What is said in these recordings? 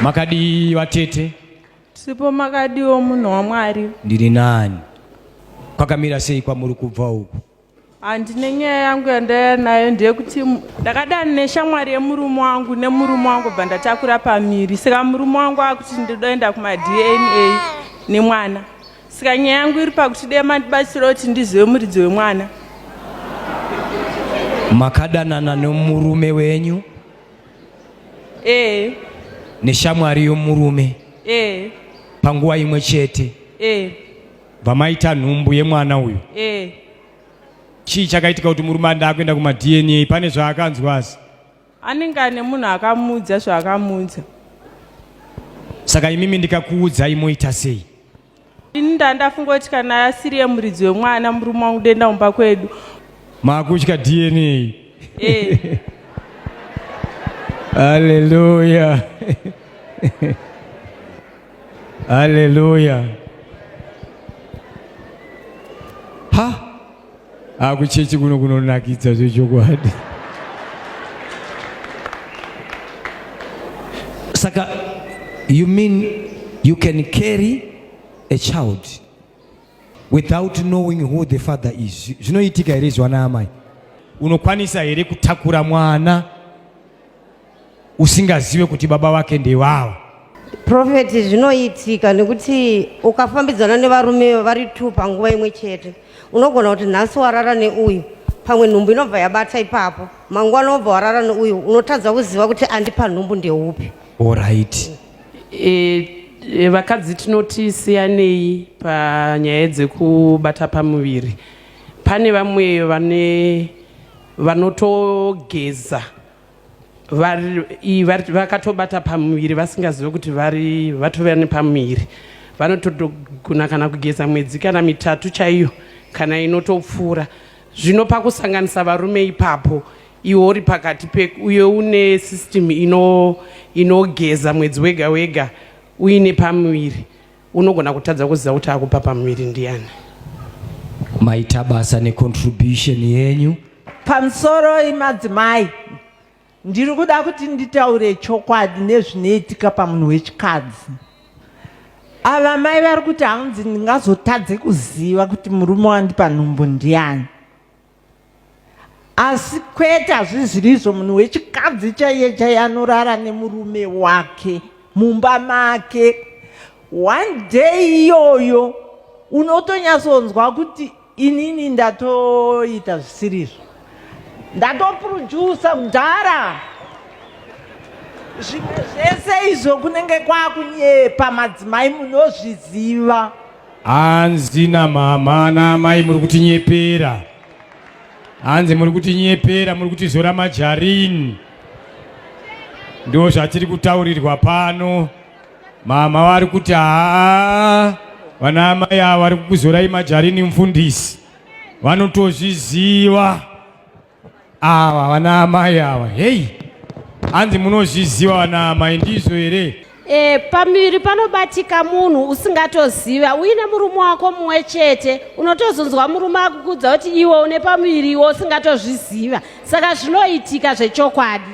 Makadii vatete? Sipo makadiwo munhu waMwari. Ndiri nani? Kwakamira sei kwamuri kubva uku? Handine nyaya yangu yandaiya nayo ndeyekuti ndakadani neshamwari yemurume wangu nemurume wangu bva ndatakura pamiri saka murume wangu akuti ndodoenda kumaDNA nemwana saka nyaya yangu iri pakuti dai mandibatsira kuti ndizive muridzi wemwana makadanana nomurume wenyu ee neshamwari yomurume ee panguva imwe chete ee vamaita nhumbu yemwana uyu ee chii chakaitika kuti murume anda akuenda kumadna pane zvaakanzwa asi anenge ane munhu akamuudza zvaakamuudza saka imimi ndikakuudzai moita sei ini ndandafunga kuti kana asiri yemuridzi wemwana murume wangu denda umba kwedu maakutya dna eh. haleluya haleluya ha akuchechi kuno kunonakidza zvechokwadi saka you mean you can carry a child without knowing who the father is zvinoitika here izvana amai unokwanisa here kutakura mwana usingazive kuti baba vake ndevava profeti zvinoitika nekuti ukafambidzana nevarume vari two panguva imwe chete unogona kuti nhasi warara neuyu pamwe nhumbu inobva yabata ipapo mangwana wobva warara neuyu unotadza kuziva kuti andipa nhumbu ndeupi orit e, e, vakadzi tinoti siyanei panyaya dzekubata pamuviri pane vamwe vane vanotogeza vakatobata pamuviri vasingazive kuti vari vatovera nepamuviri vanotogona kana kugeza mwedzi kana mitatu chaiyo kana inotopfuura zvino pakusanganisa varume ipapo iwe uri pakati pe uye une system inogeza ino mwedzi wega wega uine pamuviri Unogona kutadza kuziva kuti akupa pamuviri ndiani. Maita basa necontribution yenyu. Pamusoro imadzimai ndiri kuda kuti nditaure chokwadi nezvinoitika pamunhu wechikadzi ava mai vari kuti hanzi ndingazotadze kuziva kuti murume wandipa nhumbu ndiani asi kwete hazvizivi izvo munhu wechikadzi chaiye chaiye anorara nemurume wake mumba make one day iyoyo unotonyatsonzwa kuti inini ndatoita zvisirizvo ndatoprodusa mudhara zvimwe zvese izvo kunenge kwakunyepa madzimai munozviziva Hanzi namama naamai muri kutinyepera, hanzi muri kutinyepera, muri kutizora majarini. Ndoo zvatiri kutaurirwa pano. Mama vari kuti haa, vana amai ava vari kukuzorai majarini mfundisi, vanotozviziva. Ava vana amai ava heyi hanzi munozviziva vana amai ndizvo here? E, pamuviri panobatika munhu usingatoziva uine murume wako mumwe chete unotozonzwa murume akukudza kuti iwe une pamuviri iwe usingatozviziva saka zvinoitika zvechokwadi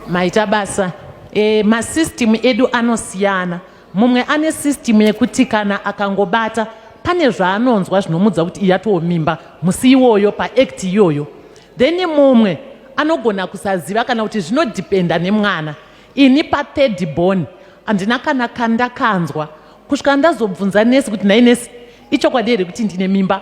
maita basa e, masystem edu anosiyana mumwe ane system yekuti kana akangobata pane zvaanonzwa zvinomudza kuti iyatowo mimba musi iwoyo paact iyoyo then mumwe anogona kusaziva kana kuti zvinodhipenda nemwana ini pathird born handina kana kandakanzwa kusvika ndazobvunza nesi kuti nhai nesi ichokwadi here kuti ndine mimba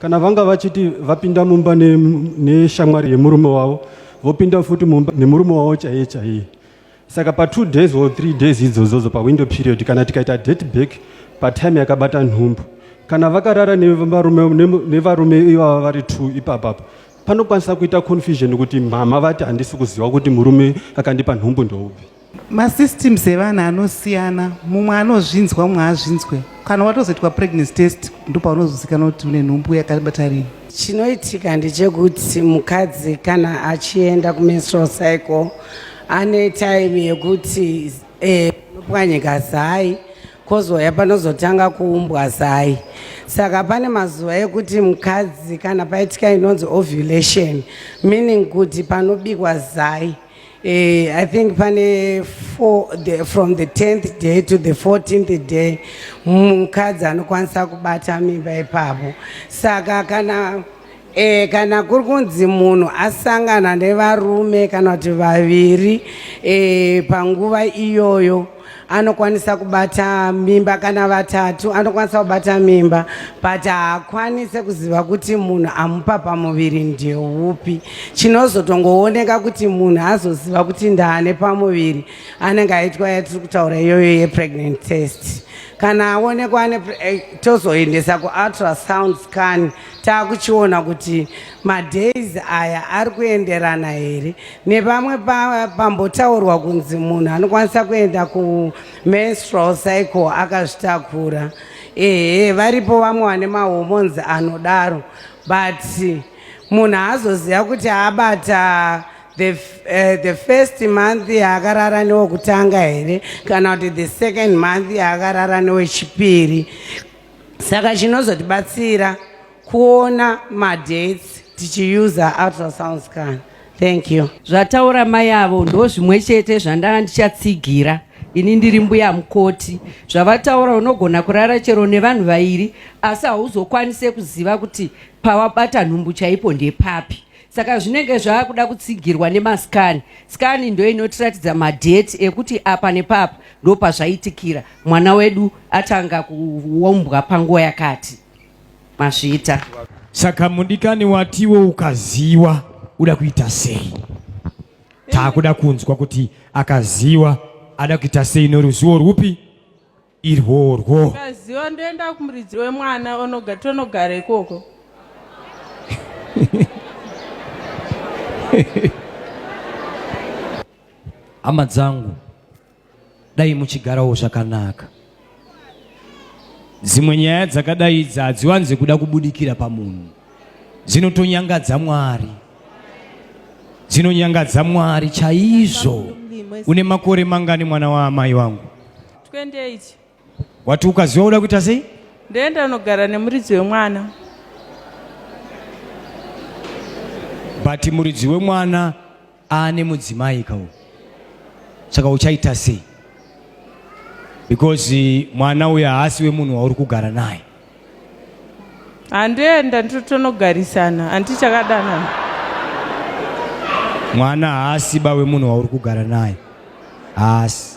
Kana vanga vachiti vapinda mumba neshamwari ne yemurume wavo vopinda futi mumba nemurume wavo chaiye chaiye saka patwo days or three days idzozodzo pawindow period kana tikaita date back patime yakabata nhumbu kana vakarara nevarume ivava vari two ipapapa panokwanisa kuita confusion kuti mhama vati handisi kuziva kuti murume akandipa nhumbu ndoupi masystems evanhu anosiyana mumwe anozvinzwa mumwe azvinzwe kana watozoitwa pregnancy test ndopaunozozikanwa kuti une nhumbu yakabata rini chinoitika ndechekuti mukadzi kana achienda kumenstrual cycle ane time yekuti eh, panopwanyika zai kozouya panozotanga kuumbwa zai saka pane mazuva ekuti mukadzi kana paitika inonzi ovulation meaning kuti panobikwa zai Eh, I think pane four, the, from the 10th day to the 14th day mukadzi anokwanisa kubata mimba ipapo saka kana E, kana kuri kunzi munhu asangana nevarume kana kuti vaviri e, panguva iyoyo anokwanisa kubata mimba kana vatatu anokwanisa kubata mimba but haakwanise kuziva kuti munhu amupa pamuviri ndeupi chinozotongooneka kuti munhu azoziva kuti ndaane pamuviri anenge aitwa yatiri kutaura iyoyo yepregnant test kana aonekwa eh, tozoendesa kuultrasound scan taakuchiona kuti Madays aya ari kuenderana here nevamwe pambotaurwa kunzi munhu anokwanisa kuenda kumenstrual cycle akazvitakura ehe varipo vamwe vane mahormones anodaro but munhu haazoziva kuti abata the, uh, the first month yaakarara newekutanga here kana kuti the second month yaakarara newechipiri saka chinozotibatsira kuona madates tichiuser ultrasound scan thank you zvataura mai avo ndo zvimwe chete zvandanga ndichatsigira ini ndiri mbuya mukoti zvavataura unogona kurara chero nevanhu vairi asi hauzokwanise kuziva kuti pawabata nhumbu chaipo ndepapi saka zvinenge zvava kuda kutsigirwa nemasikani sikani ndo inotiratidza madheti ekuti apa nepapa ndo pazvaitikira mwana wedu atanga kuombwa panguva yakati mazviita. Saka mudikani watiwo ukaziwa uda kuita sei? Takuda kunzwa kuti akaziwa ada kuita sei noruziwo rwupi irworwo. Ukaziwa ndoenda kumuridzi wemwana onoga tonogara ikoko. Hama dzangu dai muchigarawo zvakanaka dzimwe nyaya dzakadai idzi hadziwanze kuda kubudikira pamunhu dzinotonyangadza mwari dzinonyangadza mwari chaizvo une makore mangani mwana waamai wangu 28 wati ukaziva uda kuita sei ndoenda unogara nemuridzi wemwana but muridzi wemwana aane mudzimai kawo saka uchaita sei because mwana uyo haasi wemunhu wauri kugara naye handoenda nditotonogarisana hanti chakadanana mwana haasi ba wemunhu wauri kugara naye haasi